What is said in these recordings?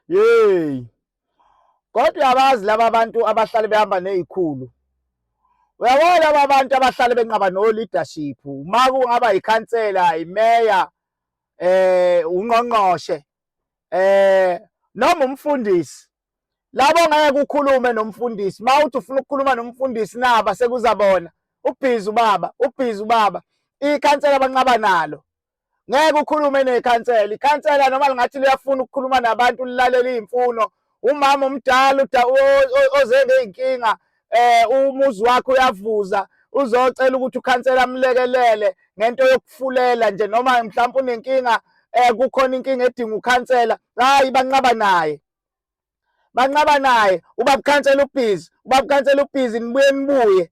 Yeyi. Kodwa uyabazi laba bantu abahlale behamba nezikhulu. Uyabona laba bantu abahlale benqaba no leadership. Uma kungaba ikhansela, imeya, eh ungqongqoshe, eh noma umfundisi. Labo ngeke kukhulume nomfundisi. Mawuthi ufuna ukukhuluma nomfundisi naba sekuzabona. Ubhizi ubaba, ubhizi ubaba. Ikhansela abanqaba nalo. ngeke ukhulume nekhansela ikhansela noma lingathi liyafuna ukukhuluma nabantu lilalele iy'mfuno umama omdala oze ngey'nkinga eh umuzi wakhe uyavuza uzocela ukuthi ukhansela amlekelele ngento yokufulela nje noma mhlawumbe unenkinga eh kukhona inkinga edinga ukhansela hayi banqaba naye banqaba naye ubabukhansela ubhizi ubabukhansela ubhizi nibuye nibuye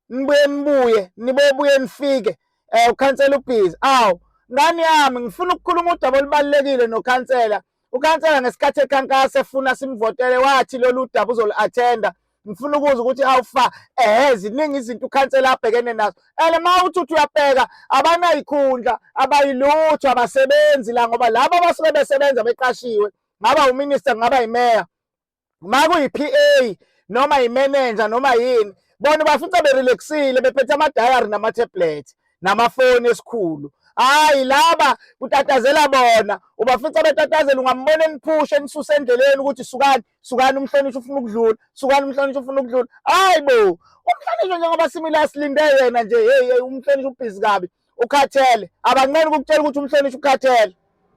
nibuye nibuye nibuye buye nifike eh ukhansela ubhizi awu ngani yami ngifuna ukukhuluma udaba olubalulekile nokhansela ukhansela ngesikhathi ekhankasa efuna simvotele wathi lolu daba uzolu-athenda ngifuna ukuzwa ukuthi awufa ehe ziningi izinto ukhansela abhekene nazo and uma uthi uthi uyabheka abanayikhundla abayilutho abasebenzi la ngoba laba abasuke besebenza beqashiwe ngaba uminister ngaba yimeya makuyi-PA noma yimenenja noma yini bona bafica berelaxile bephethe amadayari nama-tablet namafoni esikhulu hayi laba kutatazela bona ubafica betatazela ungambona eniphusha enisusa endleleni ukuthi sukani sukani umhlonishwa ufuna ukudlula sukani umhlonishwa ufuna ukudlula hayi bo umhlonishwa njengoba simile asilinde yena nje heyi umhlonishwa ubhizi kabi ukhathele abanqeni ukukutshela ukuthi umhlonishwa ukhathele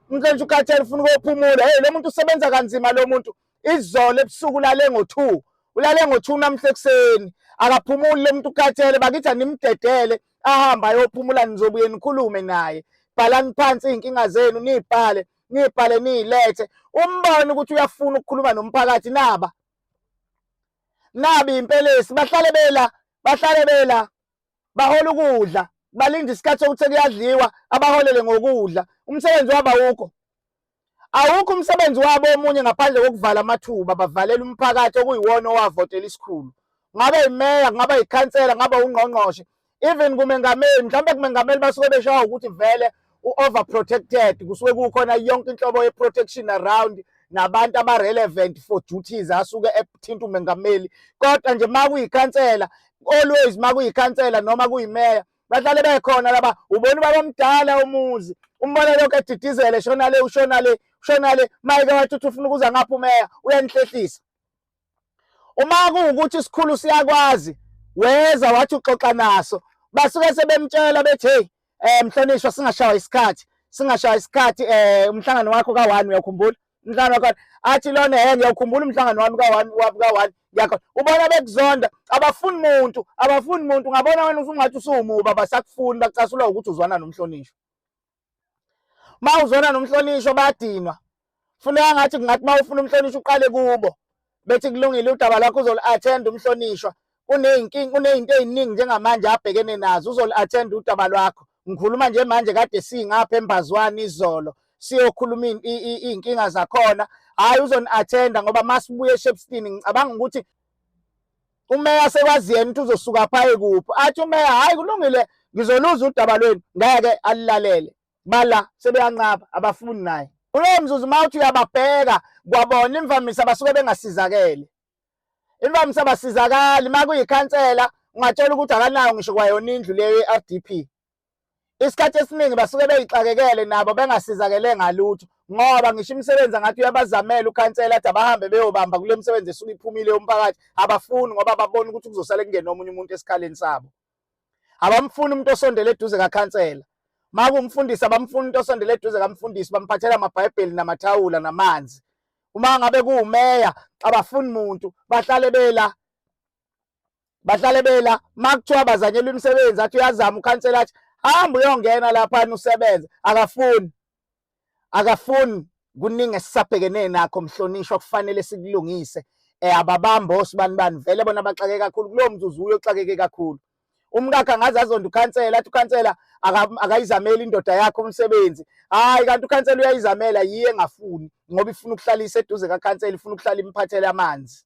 umhlonishwa ukhathele ufuna ukuyophumula hey lo muntu usebenza kanzima lo muntu izolo ebusuku ulale ngo-two ulale ngo-two namhla ekuseni akaphumuli lo muntu ukhathele bakithi animdedele ahambe ayophumula nizobuye nikhulume naye bhalani phansi iy'nkinga zenu niyibhale niyibhale niyilethe umbone ukuthi uyafuna ukukhuluma nomphakathi naba nabi impelesi bahlale bela bahlale bela bahola ukudla balinde isikhathi sokuthi kuyadliwa abaholele ngokudla umsebenzi wabo awukho awukho umsebenzi wabo omunye ngaphandle kokuvala amathuba bavalela umphakathi okuyiwona owavotela isikhulu ngabe imeya kungaba yikhansela ngaba ungqongqoshe even kumengameli mhlawumbe kumengameli basuke beshawa ukuthi vele u-overprotected kusuke kukhona yonke inhlobo ye-protection around nabantu aba-relevant for duties asuke ethinta umengameli kodwa nje uma kuyikhansela always uma kuyikhansela noma kuyimeya bahlale bekhona laba ubona ubaba omdala umuzi umbona lokho edidizele shona le ushona le ushona le mayeke wathi uthi ufuna ukuza ngapha umeya uyanihlehlisa uma kuwukuthi isikhulu siyakwazi weza wathi uxoxa naso basuke sebemtshela bethi hey eh mhlonishwa singashawa isikhathi singashawa isikhathi eh umhlangano wakho ka1 uyakhumbula umhlangano wakho athi lona hey ngiyakhumbula umhlangano wami ka1 wabu ka1 yakho ubona bekuzonda abafuni muntu abafuni muntu ngabona wena usungathi usuwumuba basakufuni bacasula ukuthi uzwana nomhlonishwa uma uzona nomhlonishwa badinwa funeka ngathi kungathi uma ufuna umhlonishwa uqale kubo bethi kulungile udaba lwakho uzolu-attend umhlonishwa kuney'nkinga kuney'nto ey'ningi njengamanje abhekene nazo uzolu-attend udaba lwakho ngikhuluma nje manje kade singapha embazwane izolo siyokhuluma iy'nkinga zakhona hhayi uzoni-attenda ngoba masibuye eshepstini ngicabanga ukuthi umeya sekwazi yena ukuthi uzosuka phaye kuphi athi umeya hhayi kulungile ngizoluza udaba lwenu ngeke alilalele bala sebeyanqaba abafuni naye kulowo mzuzu uma uthi uyababheka kwabona imvamisa basuke bengasizakele imvamisa basizakali uma kuyikhansela ungatshela ukuthi akanayo ngisho kwayona indlu leyo ye-r d p isikhathi esiningi basuke beyixakekele nabo bengasizakele ngalutho ngoba ngisho imisebenzi angathi uyabazamela ukhansela athi abahambe beyobamba kule misebenzi esuke iphumile yomphakathi abafuni ngoba babona ukuthi kuzosale kungena omunye umuntu esikhaleni sabo abamfuni umuntu osondele eduze kakhansela makumfundisi abamfuni umuntu osondele eduze kamfundisi bamphathela amabhayibheli namathawula namanzi uma ngabe kuwumeya abafuni muntu bahlale bela bahlale bela makuthiwa bazanyelwa imisebenzi athi uyazama ukhansela athi hamba uyongena laphana usebenze akafuni akafuni kuningi esisabhekene nakho mhlonishwa kufanele sikulungise um eh, ababambi osibani bani vele bona baxake kakhulu kulowo mzuzu uye uxakeke kakhulu umkakhe angaze azonda ukhansela athi ukhansela akayizameli indoda yakhe umsebenzi hayi kanti ukhansela uyayizamela yiye engafuni ngoba ifuna ukuhlala iseduze kakhansela ifuna ukuhlala imphathele amanzi